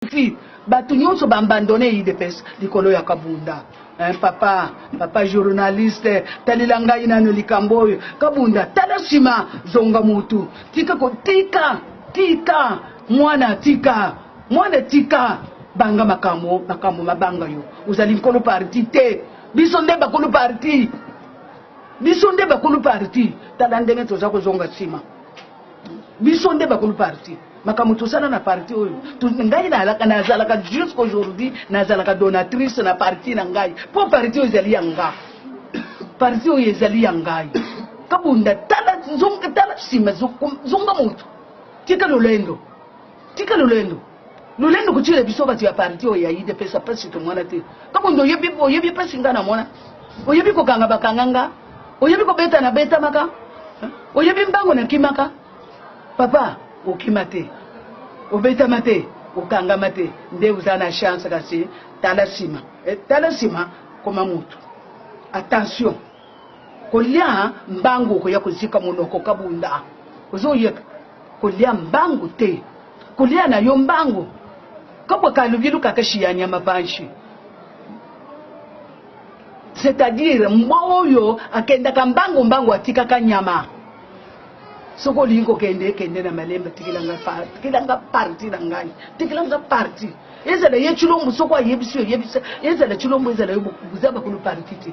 Koffi batu nionso ba abandonne udps likolo ya kabunda eh, papa papa journaliste talela ngai nano likambo oyo kabunda tala sima zonga mutu tika kotika tika mwana tika mwana tika banga makambo makambo mabanga yo ozali nkolo parti te biso nde bakolo parti biso nde bakolo parti tala ndenge toza kozonga nsima biso nde bakulu parti makambo tosala na parti oyo ngai nazalaka jusqu'aujourd'hui nazalaka donatrice na parti na ngai mpo parti oyo ezali ya nga parti oyo ezali ya ngai kabunda tala nsima zonga moto tika lolendo tika lolendo Lolendo kotiela biso bato ya parti oyo ya UDPS mpasi tomona te. Kabundi oyebi oyebi mpasi nga namona. Oyebi kokanga bakanga nga. Oyebi kobeta na betamaka. Oyebi mbango na kimaka. Papa okima te. Obetama te. Okangama te. Nde oza na chance kasi tala nsima. Eh, tala nsima koma moto. Attention. Kolia mbangu okoya kozika monoko kabunda ozoyeba kolia mbangu te kolia na yo mbangu kabwa kalubilu kakashi ya nyama panshi c'est-à-dire mbwa oyo akendaka mbangu mbangu atikaka nyama soki olingi kokende kende na malemba tikilanga tikilanga parti na ngai tikilanga parti ezala ye cilombo soko ayebisi oyebisa ezala cilombo ezala yo boza bakulu parti te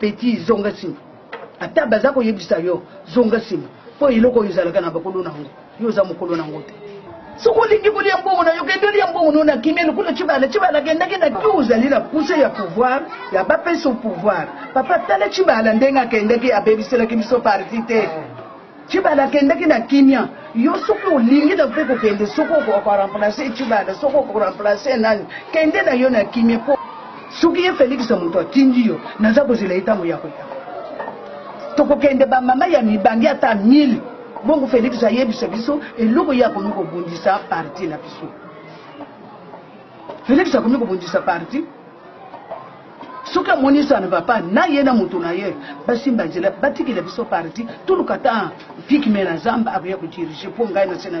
Petit zonga sima ata baza koyebisa yo zonga sima po eloko oyo ezalaka na bakolo na yango yo oza mokolo na yango te soki olingi kolia mbongo na yo kende olia mbongo no na kimia lokola cibala cibala akendaki na yo ozali na puse ya pouvoir ya bapesa pouvoir papa tala cibala ndenge akendaki abebiselaki biso parti te Tshibala akendaki na kimia, yo soki olingi na mpe kokende, soki okoka remplacer Tshibala, soki oko remplacer nani, kende na yo na kimia mpo soki ye Felix moto atindi yo, naza kozela ye ntango ya koya. Tokokende ba mama ya mibange ata 1000 bongo Felix ayebisa biso eloko ye akomi kobundisa parti na biso. Felix akomi kobundisa parti soki amoni ça ne va pas na ye na moto na ye basimba nzela batikela biso parti toluka ta vikme na zamba akoya kodirige mpo ngai na se na